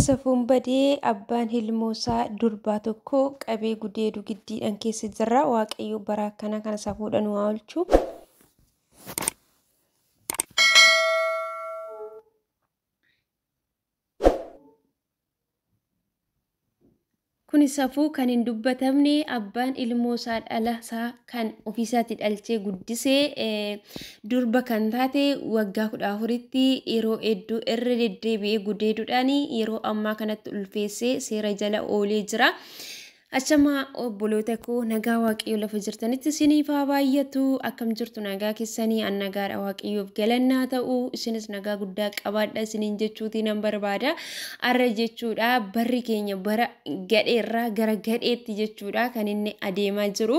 Safuun badee abbaan hilmoosaa durbaa tokko qabee gudeedu giddiidhaan keessa jirra. Waaqayyo bara akkanaa kana safuudhaan waa oolchu. Kuni safuu kan hin dubbatamne abbaan ilmoo isaa dhala isaa kan ofii isaati dhalchee guddise durba kan taate waggaa kudha afuritti yeroo hedduu irra deddeebi'ee gudeeduudhaan yeroo ammaa kanatti ulfeessee seera jala oolee jira. Achama obboloota koo nagaa waaqayyoo lafa jirtanitti isiniif haa baay'atu akkam jirtu nagaa keessanii an nagaadha waaqayyoof galannaa ta'u isinis nagaa guddaa qabaadha isiniin jechuutii nan barbaada. Arra jechuudha barri keenya bara gadheerraa gara gadheetti jechuudha kan inni adeemaa jiru.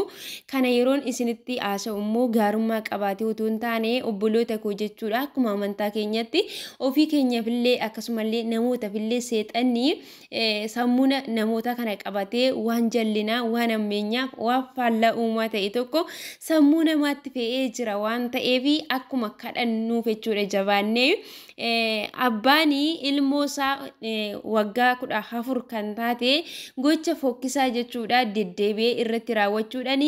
Kana yeroon isinitti haasa'u immoo gaarummaa qabaatee utuu hin taane obboloota koo jechuudha akkuma amantaa keenyatti ofii keenyafillee akkasumallee namootafillee seexanni sammuu namoota kana qabatee waan jallinaa waan ammeenyaaf waan faallaa uumaa ta'e tokko sammuu namaatti fe'ee jira waan ta'eef akkuma kadhannuuf jechuudha jabaannee abbaan ilmoo isaa waggaa kudha afur kan taate gocha fokkisaa jechuudha deddeebi'ee irratti raawwachuudhaan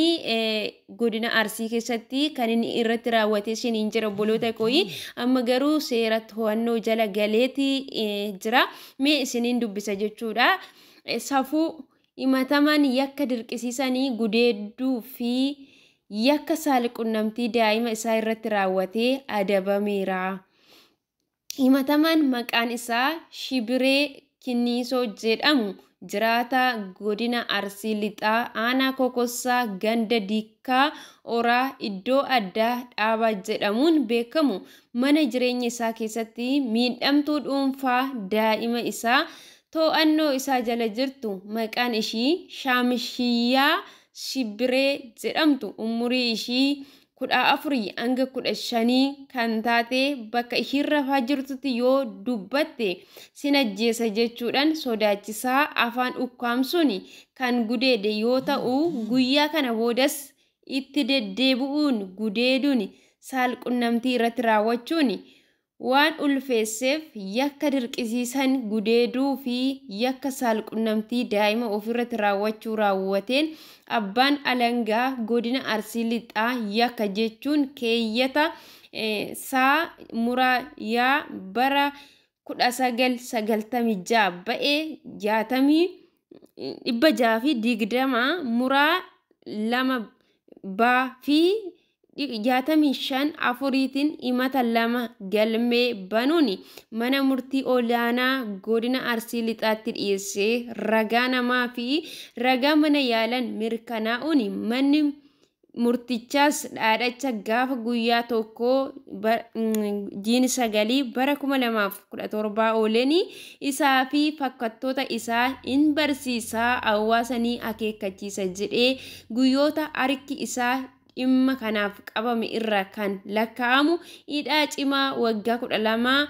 godina Arsii keessatti kan inni irratti raawwate isin hin jira obboloota kooyi amma garuu seera to'annoo jala galeeti jira mee isiniin dubbisa jechuudha safuu himataman yakka dirqisiisanii gudeedduu fi yakka saalqunnamtii daa'ima isaa irratti raawwatee adabameera. Himatamaan maqaan isaa Shibiree Kinniisoo jedhamu jiraataa godina Arsii Lixaa aanaa Kokossaa ganda Dikkaa Oraa iddoo addaa dhaabaa jedhamuun beekamu mana jireenya isaa keessatti miidhamtuu dhuunfaa daa'ima isaa too'annoo isaa jala jirtu maqaan ishii Shaamshiyyaa Shibbiree jedhamtu umurii ishii 14-15 kan taate bakka ishiin rafaa jirtutti yoo dubbatte sin ajjeesa jechuudhaan sodaachisaa afaan ukkaamsuun kan gudeede yoo ta'u guyyaa kana boodas itti deddeebi'uun gudeeduun saalqunnamtii irratti raawwachuun waan ulfeesseef yakka dirqisiisan gudeeduu fi yakka saalqunnamtii daa'ima ofiirratti raawwachuu raawwateen Abbaan Alangaa Godina Arsii Lixaa yakka jechuun keeyyata saa muraa yaa bara 1996 ba'e 620 muraa 2 baa fi 65 afuriitiin himata lama galmee banuun mana murtii olaanaa godina Arsii Lixaatti dhiyeessee ragaa namaa fi ragaa mana yaalan mirkanaa'uun manni murtichaas dhaadhacha gaafa guyyaa tokko jiini sagalii bara 2017 ooleen isaa fi fakkattoota isaa in barsiisaa hawaasa ni akeekkachiisa jedhee guyyoota harki isaa dhimma kanaaf qabame irraa kan lakkaa'amu hidhaa cimaa waggaa kudha lamaa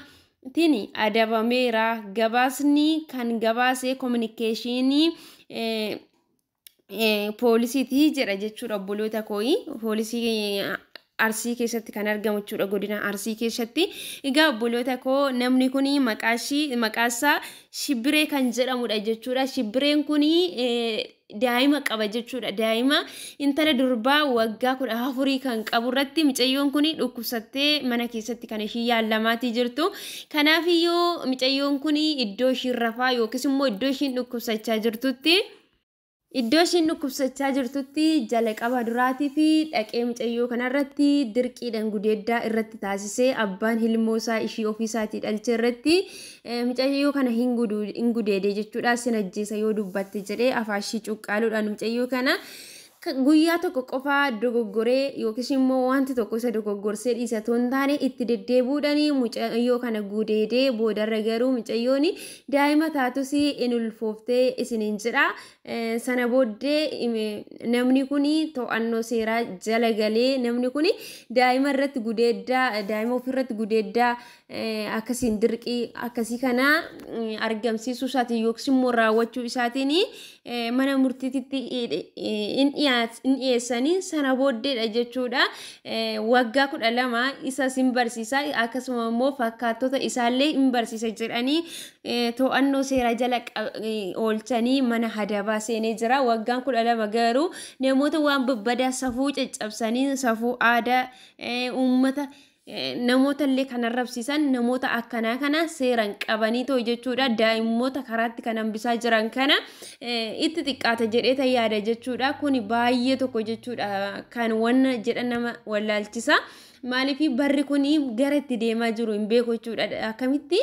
tiin adabameera. Gabaasni kan gabaase kominikeeshinii poolisiiti jedha jechuudha obboloota kooyi. Poolisii Arsii keessatti kan argamu jechuudha godina Arsii keessatti. Egaa obboloota koo namni kun maqaashii maqaasaa Shibbiree kan jedhamudha jechuudha. Shibbireen kun daa'ima qaba jechuudha. Daa'ima intala durbaa waggaa kudha afurii kan qabu irratti micayyoon kun dhukkubsattee mana keessatti kan ishii yaallamaatii jirtu. Kanaafiyyuu micayyoon kun iddoo ishiin rafaa yookiis immoo iddoo ishiin dhukkubsachaa jirtutti Iddoo ishiin dhukkubsachaa jirtutti jalqaba duraatii fi dhaqee micayyoo kanarratti dirqiidhaan gudeeddaa irratti taasisee abbaan ilmoo isaa ishii ofii isaatii dhalchee irratti Micayyoo kana hin gudu hin gudeede jechuudha sin ajjeesa yoo dubbatte jedhee afaa ishii cuqqaaluudhaan micayyoo kana guyyaa tokko qofaa dogoggoree yookiis immoo wanti tokko isa dogoggorsee dhiisa otoo hin taane itti deddeebuudhaan mucayyoo kana gudeedee boodarra garuu mucayyoon daa'ima taatus in ulfooftee isiniin jedha. Sana booddee namni kun to'annoo seeraa jala galee namni kun daa'ima irratti gudeeddaa daa'ima ofirratti gudeeddaa akkasiin dirqii akkasii kana argamsiisuu isaatiin yookiis immoo raawwachuu isaatiin mana murtiititti in dhiyeessanii sana booddeedha jechuudha. Waggaa kudha lama isas in barsiisa akkasuma immoo fakkaattota isaallee in barsiisa jedhanii to'annoo seeraa jala oolchanii mana hadabaa seenee jira. Waggaan kudha lama garuu namoota waan babbadaa safuu caccabsanii safuu aadaa uummata. namoota illee kan arrabsiisan namoota akkanaa kana seeran qabanii ta'u jechuudha daa'immoota karaatti kan hambisaa jiran kana itti xiqqaata jedheeta yaada jechuudha kuni baay'ee tokko jechuudha kan wanna jedha nama wallaalchisa. Maaliif barri kun gara itti deemaa jiru hin beeku jechuudha. Akkamitti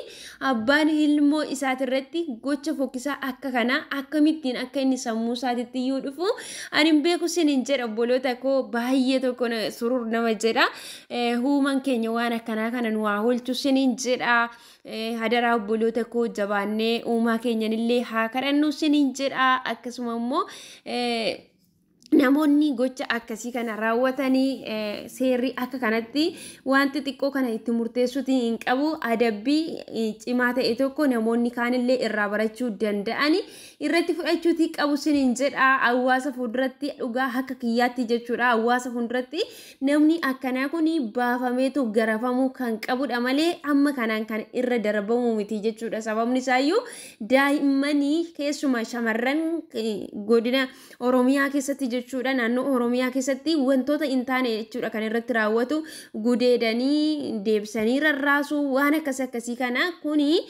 abbaan ilmoo isaatirratti gocha fokkisaa akka kanaa akkamittiin akka inni sammuu isaatitti iyyuu dhufu ani hin beeku sin hin jedha obboloota koo baay'ee tokko surur nama jedha. Huuman keenya waan akkanaa kana nu haa oolchu siniin jedha. Hadaraa obboloota koo jabaannee uumaa keenyanillee haa kadhannu siniin jedha. Akkasuma immoo namoonni gocha akkasii kana raawwatanii seerri akka kanatti wanti xiqqoo kana itti murteessuuti hin qabu adabbii cimaa ta'e tokko namoonni kaanillee irraa barachuu danda'ani irratti fudhachuuti qabu sinin jedha hawaasa fuulduratti dhugaa akka kiyyaatti jechuudha hawaasa fuulduratti Namni akkanaa kun baafameetu garafamuu kan qabudha malee amma kanaan kan irra darbamuu miti jechuudha. Sababni isaayyuu daa'immanii keessumaa shamarran godina Oromiyaa keessatti jechuudha naannoo Oromiyaa keessatti wantoota hin taane jechuudha kan irratti raawwatu gudeedanii deebisanii rarraasuu waan akkas akkasii kana kuni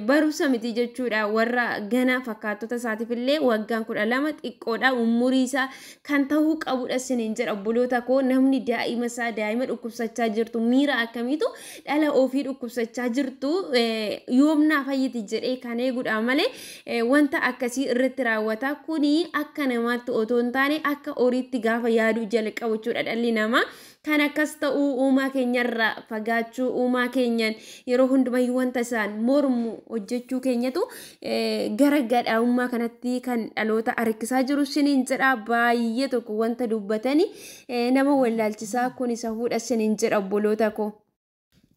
barumsa miti jechuudha warra gana fakkaattota isaatiif illee waggaan kudha lama xiqqoodha umurii isaa kan tahuu qabudha sinin jedha obboloota koo namni daa'ima isaa daa'ima dhukkubsachaa jirtu miira akkamiitu dhala ofii dhukkubsachaa jirtu yoomnaa fayyiti jedhee kan eegudha malee wanta akkasii irratti raawwata kuni akka namaatti otoo hin taane akka horiitti gaafa yaaduu jalqabu jechuudha dhalli namaa Kan akkas ta'u uumaa keenyarraa fagaachuu, uumaa keenyan yeroo hundumayyuu wanta isaan mormu hojjechuu keenyatu gara gadhaa'ummaa kanatti kan dhaloota harkisaa jiru siniin jedha baay'ee tokko wanta dubbatani nama wallaalchisaa kun isa fuudha siniin jedha obboloota koo.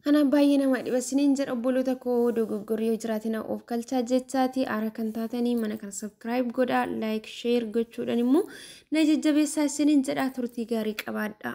Kanaaf baay'ee nama dhiba isiniin jedha obboloota koo dogoggorri yoo jiraate na of galchaa jechaati aara kan taatanii mana kana subscribe godha like share gochuudhaan immoo na jajjabeessaa isiniin jedha turtii gaarii qabaadha.